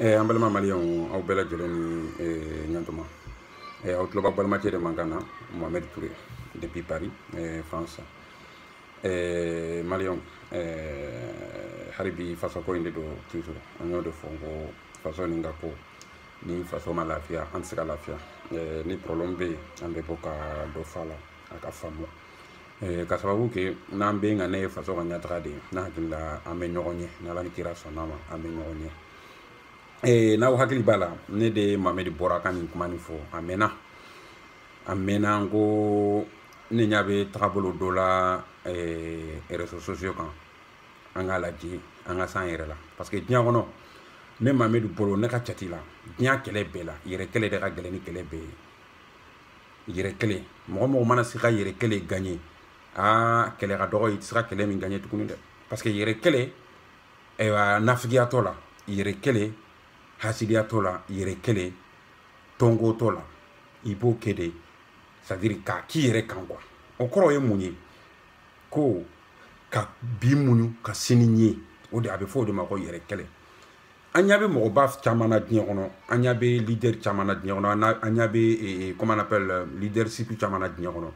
Eh, an balima maliyɛnw aw bɛɛ lajɛlen ni eh, ɲantuma eh, aw tulo b'aw balimacɛ de mankan na mohamed toure depuis paris eh, france eh, maliyɛnw eh, hali bi fasoko in de don toujours an y'o de fɔ ko faso nin ka ko ni faso ma lafiya an tɛ se ka lafiya eh, ni problème bɛ yen an bɛ bɔ ka dɔ f'a la a ka faamu eh, k'a sababu kɛ n'an bɛɛ kanu ye faso ka ɲɛtaga de ye ne hakili la an bɛ ɲɔgɔn ɲɛ n'ala ni kira sɔnn'a ma an bɛ ɲɔgɔn ɲɛ eh, n'aw hakili b'a la ne de mamɛdi bɔra ka nin kuma nin fɔ a mɛnna a mɛnna n ko ne ɲa bɛ tagabolo dɔ la eh, réseaux sociaux kan an k'a lajɛ an ka s'an yɛrɛ la parce que diɲɛ kɔnɔ ne mamɛdi bolo ne ka cati la diɲɛ kɛlɛ bɛɛ la yɛrɛ kɛlɛ de ka gɛlɛn ni kɛlɛ bɛɛ ye yɛrɛ kɛlɛ mɔgɔ mɔgɔ mana se ka yɛrɛ kɛlɛ gagner aa kɛlɛ ka dɔgɔ i tɛ se ka kɛlɛ min gagner tuguni dɛ parce que yɛrɛ kɛlɛ ayiwa nafigiya t'o la yɛrɛ kɛlɛ hasidiya t'o la yɛrɛ kɛlɛ tɔnko t'o la i b'o kɛ de c'est à dire k'a k'i yɛrɛ kan quoi o kɔrɔ ye mun ye ko ka bi muɲu ka sini ɲɛ o de a bɛ fɔ o de ma ko yɛrɛ kɛlɛ an ɲa bɛ mɔgɔba caman na diɲɛ kɔnɔ an ɲa bɛ leader caman na diɲɛ kɔnɔ an ɲa bɛ comment on appelle euh, leadership caman na diɲɛ kɔnɔ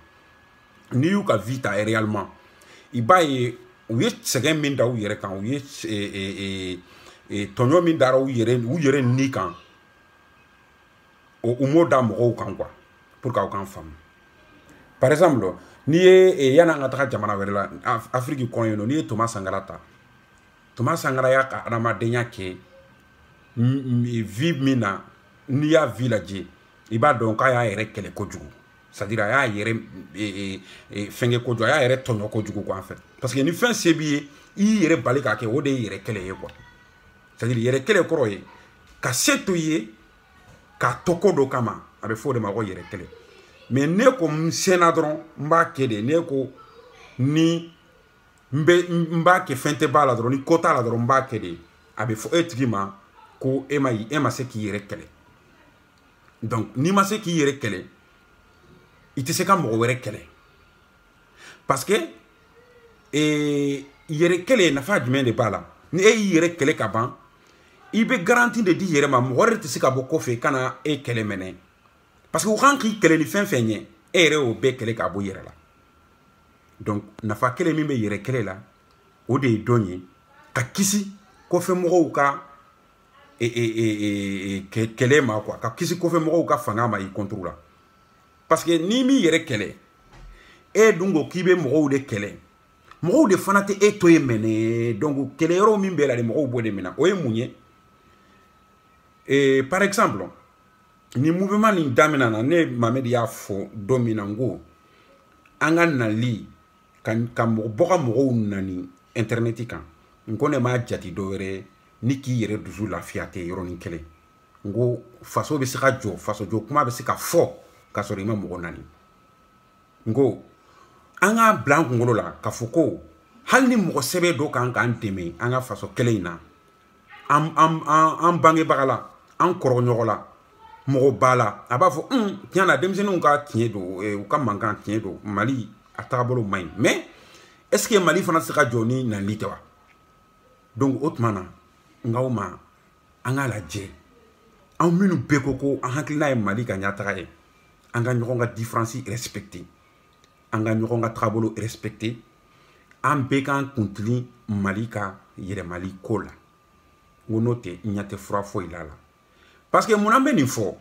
n'i y'u ka vie ta réellement i b'a ye u ye sɛgɛn min da u yɛrɛ kan u ye tɔɲɔ min dara u yɛrɛ u yɛrɛ ni kan u m'o da mɔgɔw kan quoi pour que aw k'an faamu par exemple n'i ye yan an ka taga jamana wɛrɛ la afiriki kɔnɔ yen nɔ n'i ye thomas sankara ta thomas sankara y'a ka adamadenya kɛ vie min na n'i y'a vie lajɛ i b'a dɔn k'a y'a yɛrɛ kɛlɛ kojugu c'est à dire a y'a yɛrɛ e, e, e, fɛnkɛ kojugu a y'a yɛrɛ tɔɲɔ kojugu quoi en fait parce que ni fɛn se b'i ye i y'i yɛrɛ bali k'a kɛ o de ye yɛrɛ kɛlɛ ye quoi c'est à dire yɛrɛ kɛlɛ kɔrɔ ye ka se to i ye k'a to ko dɔ kama a bɛ fɔ o de ma ko yɛrɛ kɛlɛ mais ne ko n sera dɔrɔn n b'a kɛ de ne ko ni n bɛ n b'a kɛ fɛn tɛ b'a la dɔrɔn ni ko t'a la dɔrɔn n b'a kɛ de a bɛ fɔ e tigi ma ko e ma e ma se k'i yɛrɛ kɛlɛ donc n'i ma se k'i yɛrɛ kɛlɛ i tɛ se ka mɔgɔ wɛrɛ kɛlɛ parce que ee yɛrɛ kɛlɛ nafa jumɛn de b'a la ni e y'i yɛrɛ kɛlɛ ka ban i bɛ garantie de d'i yɛrɛ ma mɔgɔ wɛrɛ tɛ se ka bɔ kɔfɛ ka na e kɛlɛ maintenant parce que u kan k'i kɛlɛ ni fɛn fɛn ye e yɛrɛ y'o bɛɛ kɛlɛ k'a bɔ i yɛrɛ la donc nafa kelen min bɛ yɛrɛ kɛlɛ la o de ye dɔn ye ka kisi kɔfɛmɔgɔw ka e, e, e, kɛlɛ ma quoi ka kisi kɔfɛmɔgɔw ka fanga ma i contre la parce que n'i m'i yɛrɛ kɛlɛ e dun ko k'i bɛ mɔgɔw de kɛlɛ mɔgɔw de fana tɛ e to yen mɛnɛ donc kɛlɛ yɔrɔ min b'e la de mɔgɔw b'o de minɛ o ye mun ye par exemple ni mouvement nin damina na ne mamɛdi y'a fɔ don min na n ko an ka nali ka ka mɔgɔ bɔ ka mɔgɔw nani intɛrɛnɛti kan n ko ne m'a jati dɔ wɛrɛ ni k'i yɛrɛ dusu lafiya tɛ yɔrɔnin kelen n ko faso bɛ se ka jɔ faso jɔ kuma bɛ se ka fɔ k'a sɔrɔ i ma mɔgɔ nani n ko an k'a bila an kunkolo la k'a fɔ ko hali ni mɔgɔ sɛbɛ dɔ kan k'an dɛmɛ an ka faso kɛlɛ in na an an an an bangebaga la an kɔrɔɲɔgɔn la mɔgɔ b'a la a b'a fɔ un hmm, tiɲɛ na denmisɛnninw ka tiɲɛ don eh, u ka mankan tiɲɛ don mali a taabolo man ɲi mais est ce que mali fana tɛ se ka jɔ ni nali tɛ wa donc o tuma na n k'aw ma an k'a lajɛ an minnu bɛɛ ko ko an hakilina ye mali ka ɲɛtaga ye an ka ɲɔgɔn ka différence respecter an ka ɲɔgɔn ka tagabolo respecter an bɛɛ k'an kuntilen mali ka yiriwali ko la n ko n'o tɛ n ɲɛ tɛ fura foyi la la parce que mun an bɛ nin fɔ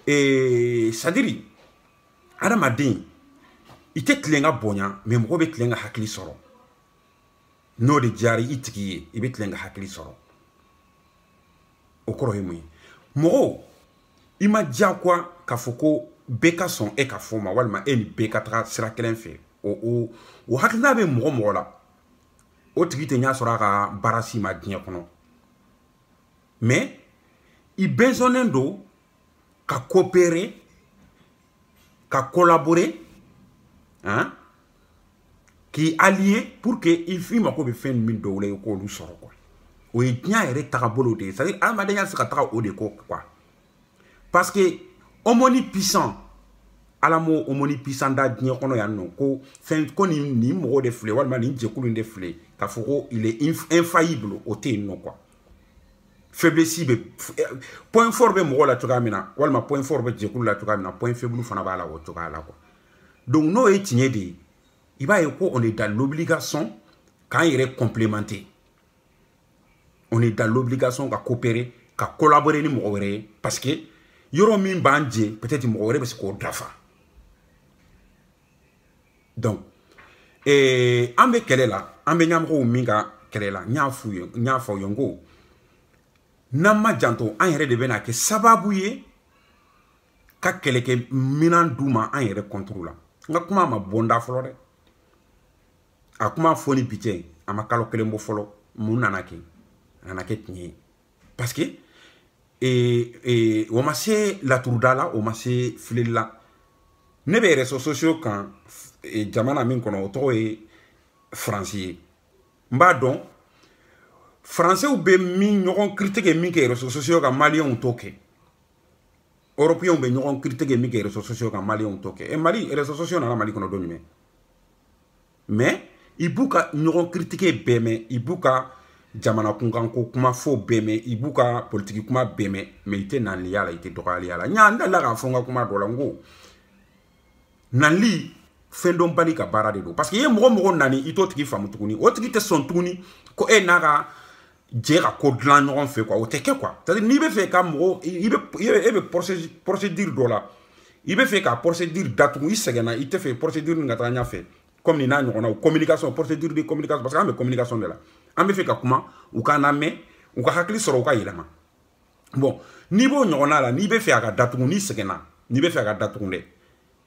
ee c'est à dire adamaden i tɛ tilen ka bonya mais mɔgɔ bɛ tilen ka hakili sɔrɔ n'o de diyara i tigi ye i bɛ tilen ka hakili sɔrɔ o kɔrɔ ye mun ye mɔgɔw i m'a diyagoya k'a fɔ ko bɛɛ ka sɔn e ka fɔ ma walima e ni bɛɛ ka taga sira kelen fɛ o o o hakilina bɛ mɔgɔ mɔgɔ la o tigi tɛ ɲɛ sɔrɔ a ka baara si ma diɲɛ kɔnɔ mais i besoinnen don ka coopérer ka collaborer hein, k'i allier pour que i f'i mako bɛ fɛn min dɔw la i k'olu sɔrɔ quoi o ye diɲɛ yɛrɛ tagabolo de ye c'est à dire adamadenya tɛ se ka taga o de kɔ quoi parce que omnipuissant ala m'o omnipuissant da diɲɛ kɔnɔ yan nɔ ko fɛn ko nin nin mɔgɔ de filɛ walima nin jɛkulu in de filɛ k'a fɔ ko il est infaillible o tɛ yen nɔ quoi faiblesse bɛ eh, point fort bɛ mɔgɔ la cogoya min na walima point fort bɛ jɛkulu la cogoya min na point faible fana b'a la o cogoya la quoi donc n'o ye tiɲɛ de ye i b'a ye ko on est dans l'obligation k'an yɛrɛ complémenter on est dans l'obligation ka coopérer ka collaborer ni mɔgɔ wɛrɛ ye parce que yɔrɔ min b'an jɛ peut-être mɔgɔ wɛrɛ bɛ se k'o dafa donc ee an bɛ kɛlɛ la an bɛ ɲɛmɔgɔw min ka kɛlɛ la n y'a f'u ye n y'a fɔ aw ye n ko n'an ma janto an yɛrɛ de bɛna kɛ sababu ye ka kɛlɛkɛminan d'u ma an yɛrɛ contre la n ka kuma ma bɔ n da fɔlɔ dɛ a kuma fɔ ni bi cɛ a ma kalo kelen bɔ fɔlɔ mun nana kɛ a nana kɛ tiɲɛ ye parce que et, et, o ma se laturuda la o ma se fileli la ne bɛ réseaux sociaux kan e, jamana min kɔnɔ o tɔgɔ ye faransi ye n b'a dɔn faransew bɛ min ɲɔgɔn kiritike min kɛ réseaux sociaux kan maliyɛnw t'o kɛ européens bɛ ɲɔgɔn kiritike min kɛ réseaux sociaux kan maliyɛnw t'o kɛ e mali réseaux sociaux nana mali kɔnɔ don jumɛn mais i b'u ka ɲɔgɔn kiritike bɛɛ mɛn i b'u ka jamana kunkanko kuma fɔ bɛɛ mɛn i b'u ka politiki kuma bɛɛ mɛn mais i tɛ nanli y'a la i tɛ dɔgɔyali y'a la n y'a n dalila k'a fɔ n ka kuma dɔ la n ko nanli fɛndɔnbali ka baara de don parce que i ye mɔgɔ mɔgɔ nani i t'o tigi faamu tuguni o tigi tɛ sɔn tuguni ko e n'a ka jɛ ka ko dilan ɲɔgɔn fɛ quoi o tɛ kɛ quoi c'est à dire n'i bɛ fɛ ka mɔgɔ i bɛ e bɛ procédure dɔ la i bɛ fɛ ka procédure datugu i sɛgɛnna i tɛ fɛ procédure nin ka taa ɲɛfɛ comme nin n'a ɲɔgɔnnaw communication procédure de communication parce que an bɛ communication de la an bɛ fɛ ka kuma u k'an lamɛn u ka hakili sɔrɔ u ka yɛlɛma bon n'i b'o ɲɔgɔnna la n'i bɛ fɛ a ka datugu n'i sɛgɛnna n'i bɛ fɛ a ka datugu dɛ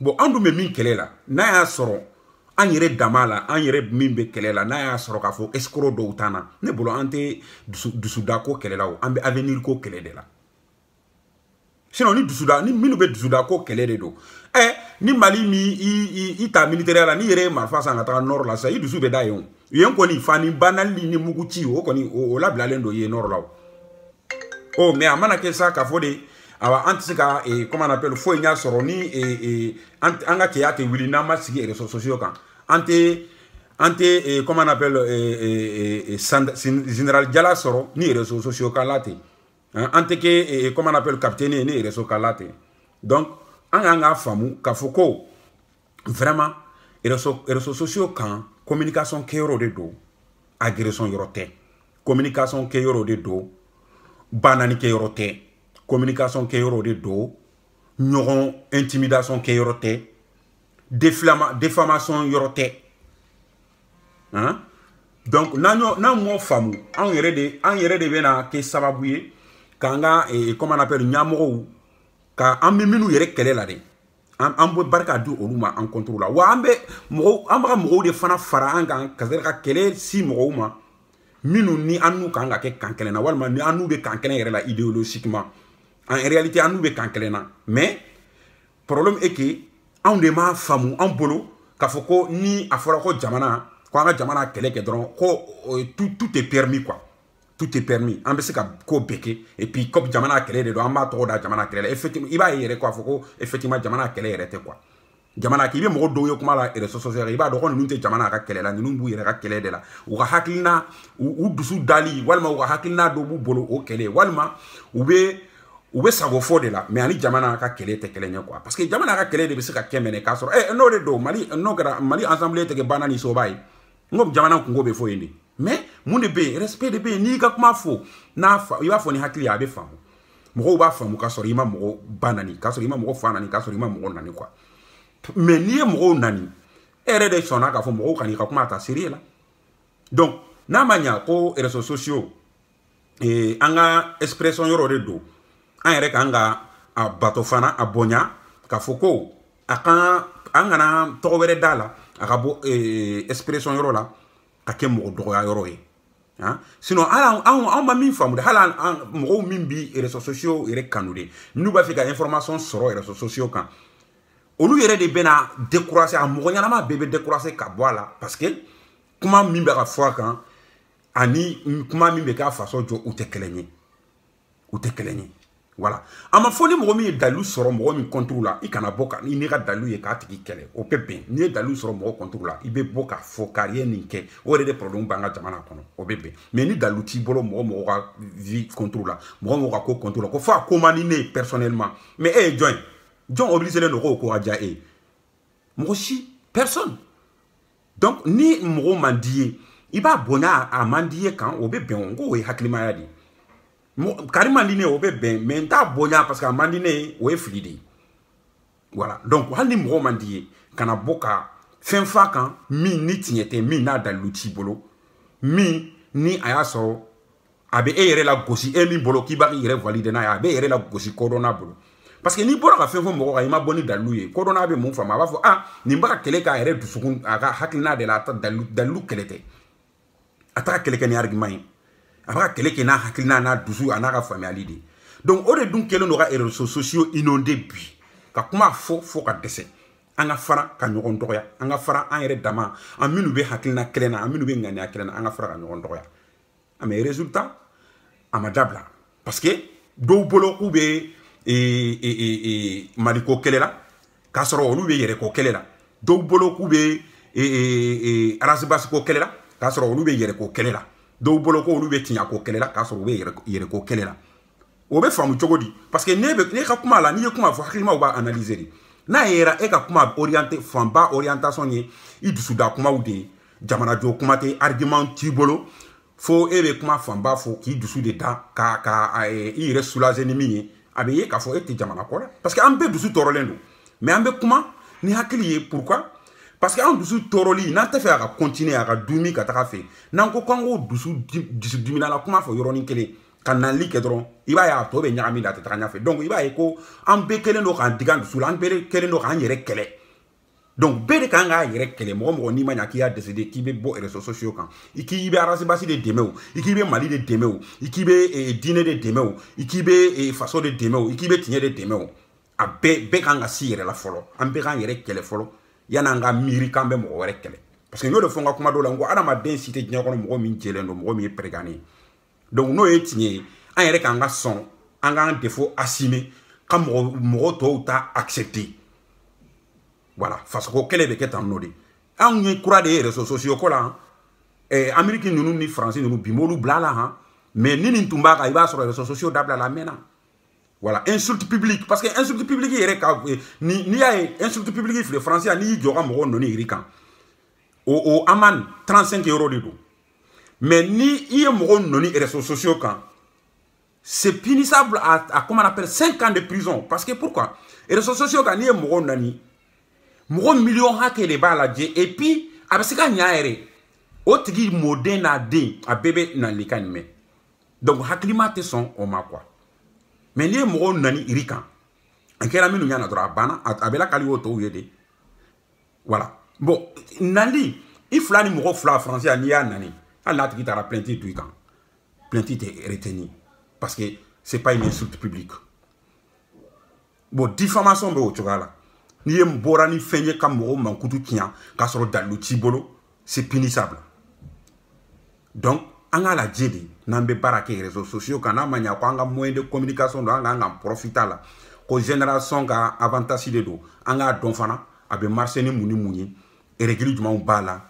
bon an dun bɛ min kɛlɛ la n'a y'a sɔrɔ an yɛrɛ dama la an yɛrɛ min bɛ kɛlɛ la n'a y'a sɔrɔ k'a fɔ escroc dɔw t'an na ne bolo an tɛ dusu dusudako kɛlɛ la o an bɛ avenir ko kɛlɛ de la sinon ni dusuda ni minnu bɛ dusudako kɛlɛ de don ɛ eh, ni mali ni i i i ta militaire la n'i yɛrɛ ye marifa san ka taga nord la sisan i dusu bɛ da yen o yen kɔni fa ni ba nanli ni muguci o kɔni o labilalen don yen nord la o ɔ mais a mana kɛ sa k'a fɔ de awa an tɛ se ka eh, comment on appelle foyi ɲa sɔrɔ ni eh, eh, an ka cɛya tɛ wuli n'an ma sigi réseaux sociaux kan an tɛ an tɛ comment on appelle général jala sɔrɔ ni réseaux sociaux kan la tɛ an tɛ kɛ comment on appelle capitaine ye ni réseau kan la tɛ donc an k'an k'a faamu k'a fɔ ko vraiment réseau réseau sociaux kan communication kɛyɔrɔ de don agression yɔrɔ tɛ communication kɛyɔrɔ de don banani kɛyɔrɔ tɛ communication kɛyɔrɔ de don ɲɔgɔn intimidation kɛyɔrɔ tɛ déflama défamation yɔrɔ tɛ hein donc n'an y'o n'an m'o faamu anw yɛrɛ de an yɛrɛ de bɛna kɛ sababu ye k'an ka eh, comment on appelle ɲɛmɔgɔw ka an bɛ minnu yɛrɛ kɛlɛ la dɛ an an bɛ barika di olu ma an contre la wa an bɛ mɔgɔw an bɛ ka mɔgɔw de fana fara an kan ka se ka kɛlɛ sin mɔgɔw ma minnu ni an n'u kan ka kɛ kan kelen na walima ni an n'u bɛ kan kelen yɛrɛ la idéologiquement en réalité an n'u bɛ kan kelen na mais problème est que anw de m'a faamu an bolo k'a fɔ ko ni a fɔra ko jamana ko an ka jamana kɛlɛ kɛ dɔrɔn ko tout tout est permis quoi tout est permis an bɛ se ka ko bɛɛ kɛ et puis comme jamana kɛlɛ de don an b'a tɔgɔ da jamana kɛlɛ la effectivement i b'a ye yɛrɛ k'a fɔ ko effectivement jamana kɛlɛ yɛrɛ tɛ quoi jamana k'i bɛ mɔgɔ dɔw ye kuma la réseaux sociaux i b'a dɔn ko ninnu tɛ jamana ka kɛlɛ la ninnu b'u yɛrɛ ka kɛlɛ de la u ka hakilina u dusu dali walima u ka hakilina dɔ b'u bolo o kɛlɛ walima u bɛ u bɛ sago fɔ de la mais a ni jamana ka kɛlɛ tɛ kelen ye quoi parce que jamana ka kɛlɛ de bɛ se ka kɛ mené k'a sɔrɔ ɛ n'o de don mali n'o kɛra mali assemblée tɛ kɛ ba nani soba ye n ko jamana kunko bɛ fɔ yen de mais mun de bɛ yen respect de bɛ yen n'i ka kuma fɔ i b'a fɔ ni hakili ye a bɛ faamu mɔgɔw b'a faamu k'a sɔrɔ i ma mɔgɔ ba nani k'a sɔrɔ i ma mɔgɔ fa nani k'a sɔrɔ i ma mɔgɔ nani quoi mais n'i ye mɔgɔw nani e yɛrɛ de sɔnna k'a fɔ mɔgɔw kan'i ka kuma ta sérieux la donc n'a ma ɲa ko réseaux sociaux ee an ka expression yɔrɔ de don an yɛrɛ kan ka a bato fana a bonya k'a fɔ ko a kan an kana tɔgɔ wɛrɛ d'a la a ka bɔ expression yɔrɔ la ka kɛ mɔgɔ dɔgɔya yɔrɔ ye Hein? sinon ala anw anw ma min faamu de hali an mɔgɔw min bi réseaux sociaux yɛrɛ kanu de n'u b'a fɛ ka information sɔrɔ réseaux sociaux kan olu yɛrɛ de bɛna décourager a mɔgɔ ɲɛnama bɛɛ bɛ décourager ka bɔ a la parce que kuma min bɛ ka fɔ a kan ani kuma min bɛ ka faso jɔ u tɛ kelen ye u tɛ kelen ye voilà a ma fɔ ni mɔgɔ min ye dalilu sɔrɔ mɔgɔ min contre la i kana bɔ ka i n'i ka dalilu ye k'a tigi kɛlɛ o bɛ bɛn n'i ye dalilu sɔrɔ mɔgɔ contre la i bɛ bɔ k'a fɔ kari ye nin kɛ o yɛrɛ de problème b'an ka jamana kɔnɔ o bɛ bɛn mais ni dalilu t'i bolo mɔgɔ mɔgɔ ka vie contre la mɔgɔ mɔgɔ ka ko contre la k'a fɔ a ko man di ne ye personnellement mais e ye jɔn ye jɔn obligélen don k'o ko ka diya e ye mɔgɔ si personne donc ni mɔgɔ man d'i ye i b'a bonya a man d'i ye kan o bɛ bɛn n ko o ye hakilimaya de ye kari man di ne ye o bɛ bɛn mais n t'a bonya parce que a man di ne ye o ye fili de ye voilà donc hali ni mɔgɔ man d'i ye kana bɔ ka fɛn f'a kan min ni tiɲɛ tɛ min n'a dalilu t'i bolo min ni a y'a sɔrɔ a bɛ e yɛrɛ lagosi e min bolo k'i bɛ k'i yɛrɛ valider n'a ye a bɛ e yɛrɛ lagosi kodɔnna bolo parce que n'i bɔra ka fɛn fɔ mɔgɔ kan i ma bɔ ni dalilu ye kodɔnna bɛ mun faamu a b'a fɔ ah nin bɛ ka kɛlɛ k'a yɛrɛ dusukun a ka hakilina de la a ta dalilu dalilu kɛlɛ tɛ a t'a kɛlɛ kɛ ni argument ye a b'a kɛlɛ kɛ n'a hakilina n'a dusu a n'a ka faamuyali de donc o de dun kɛlen don ka réseaux sociaux inondé bi ka kuma fɔ fɔ ka dɛsɛ an ka fara ka ɲɔgɔn dɔgɔya an ka fara an yɛrɛ dama an minnu bɛ hakilina kelen na an minnu bɛ ŋaniya kelen na an ka fara ka ɲɔgɔn dɔgɔya ah mais résultat a ma dabila parce que dɔw bolo k'u bɛ e, e, e, maliko kɛlɛ la k'a sɔrɔ olu bɛ yɛrɛko kɛlɛ la dɔw bolo k'u bɛ ras bath ko kɛlɛ la k'a sɔrɔ olu bɛ yɛrɛko kɛlɛ la dɔw bolo ko olu bɛ tiɲako kɛlɛ la k'a sɔrɔ u bɛ yɛrɛko kɛlɛ la o bɛ faamu cogo di parce que ne bɛ ne ka kuma la n'i ye kuma fɔ hakilimaw b'a analyser de n'a yera e ka kuma orienté fanba orientation ye i dusuda kumaw de ye jamanajɔ kuma tɛ argument t'i bolo fo e bɛ kuma fanba fɔ k'i dusu de da ka ka i yɛrɛ soulager ni min ye a bɛ ye k'a fɔ e tɛ jamana ko la parce que an bɛɛ dusu tɔɔrɔlen don mais an bɛ kuma ni hakili ye pourquoi parce que an dusu tɔɔrɔli n'an t'a fɛ a ka continuer a ka dumi ka taga a fɛ n'an ko k'an k'o dusu dusu diminala kuma fɔ yɔrɔnin kelen ka nali kɛ dɔrɔn i b'a ye a tɔ bɛ ɲagami la a tɛ taga ɲɛfɛ donc i b'a ye ko an bɛɛ kɛlen don k'an digi an dusu la an bɛɛ kɛlen don k'an yɛrɛ kɛlɛ donc bɛɛ de kan k'a yɛrɛ kɛlɛ mɔgɔ mɔgɔ n'i ma ɲa k'i y'a décidé k'i bɛ bɔ réseaux sociaux kan i k'i bɛ ras bath de dɛmɛ o i k'i bɛ mali de dɛmɛ o i k'i bɛ diinɛ de dɛmɛ o i k'i bɛ faso de dɛmɛ o i k'i bɛ tiɲɛ de dɛmɛ o a bɛɛ bɛɛ kan ka se i yɛrɛ la fɔlɔ an bɛɛ k'an yɛrɛ kɛlɛ fɔlɔ yan'an ka miiri k'an bɛ mɔgɔ wɛrɛ kɛlɛ parce que n y'o de fɔ n ka kuma dɔw la n ko adamaden si tɛ diɲɛ kɔnɔ mɔgɔ min jɛlen don mɔgɔ min ye pɛrɛgannen ye donc n'o ye tiɲɛ ye an yɛrɛ kan ka sɔn an k'an défaut assumer ka mɔgɔ mɔgɔ tɔw ta accepter voilà fasoko kɛlɛ bɛ kɛ tan nɔ de anw ye kura de ye réseaux sociaux ko la eh, amérique ninnu ni faransi ninnu bi m'olu bil'a la han mais ni nin tun b'a kan i b'a sɔrɔ réseaux sociaux dabila la a mɛnna voilà insulte publique parce que insulte publique yɛrɛ ka eh, ni n'i y'a ye insulte publique filɛ faransi yan n'i y'i jɔ ka mɔgɔw nɔni rue kan o o amende 35 euro de don mais ni i ye mɔgɔ nɔni réseaux sociaux kan c'est punissable à, à comment on appelle 5 ans de prison parce que pourquoi réseaux sociaux kan n'i ye mɔgɔ nani mɔgɔ miliyɔn hakɛ de b'a lajɛ et puis a bɛ se ka ɲa yɛrɛ o tigi mɔden n'a den a bɛɛ bɛ nali kan nin mɛn donc hakilima tɛ sɔn o ma quoi mais n'i ye mɔgɔw nani rue kan a kɛra minnu ɲana dɔrɔn a banna a bɛ lakali o tɔw ye de voilà bon nali i fila ni mɔgɔ fila faransi yan n'i y'a nani hali n'a tigi taara plainte don i kan plainte tɛ retenu parce que c'est pas une insulte publique bon diffamation bɛ o cogoya la ni e bɔra ni fɛn ye ka mɔgɔw mankutu tiɲɛ k'a sɔrɔ dalilu t'i bolo c'est punissable donc an k'a lajɛ de n'an bɛ baara kɛ réseaux sociaux kan n'a ma ɲa ko an ka moyen de communication don an k'an k'an profiter a la ko génération ka avantage de don an k'a dɔn fana a bɛ marcher ni mun ni mun ye règle jumɛnw b'a la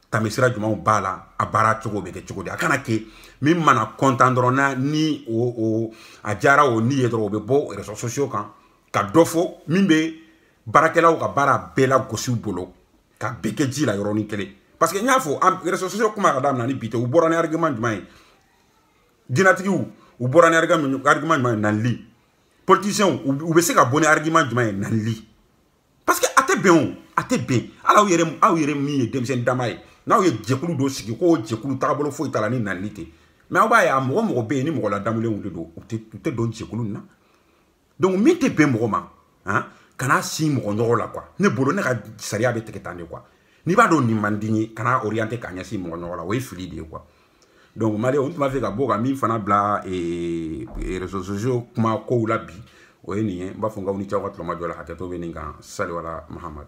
tamisira jumɛnw b'a la a baara cogo bɛ kɛ cogo di a kana kɛ min mana content dɔrɔn na ni o o a diyara o ni ye dɔrɔn o bɛ bɔ réseaux sociaux kan ka dɔ fɔ min bɛ baarakɛlaw ka baara bɛɛ lagosi u bolo ka bɛɛ kɛ ji la yɔrɔnin kelen parce que n y'a fɔ réseaux sociaux kuma ka daminɛ ni bi tɛ u bɔra ni argument jumɛn ye diinɛtigiw u bɔra ni argument jumɛn ye nɛnili politiciens u bɛ se ka bɔ ni argument jumɛn ye nɛnili parce que a tɛ bɛn o a tɛ bɛn hali aw yɛrɛ aw yɛrɛ min ye denmisɛnnin dama ye n'aw ye jɛkulu dɔ sigi k'o jɛkulu tagabolo foyi t'a la ni nɛnili tɛ mais aw b'a ye a mɔgɔ mɔgɔ bɛ yen ni mɔgɔ ladamulenw de don u tɛ don jɛkulu nin na donc min tɛ bɛn mɔgɔ ma han kana sin mɔgɔ ɲɔgɔn la quoi ne bolo ne ka sariya bɛ tigɛ tan de quoi n'i b'a dɔn nin man di i ye kana orienté k'a ɲɛsin mɔgɔ ɲɔgɔn la o ye fili de ye quoi donc mali n tun b'a fɛ ka bɔ ka min fana bila eh, eh, réseaux sociaux kuma kow la bi o ye nin ye n b'a fɔ n ka aw ni ce aw ka tulomajɔ la hakɛto bɛ nin kan sali wala mahamadu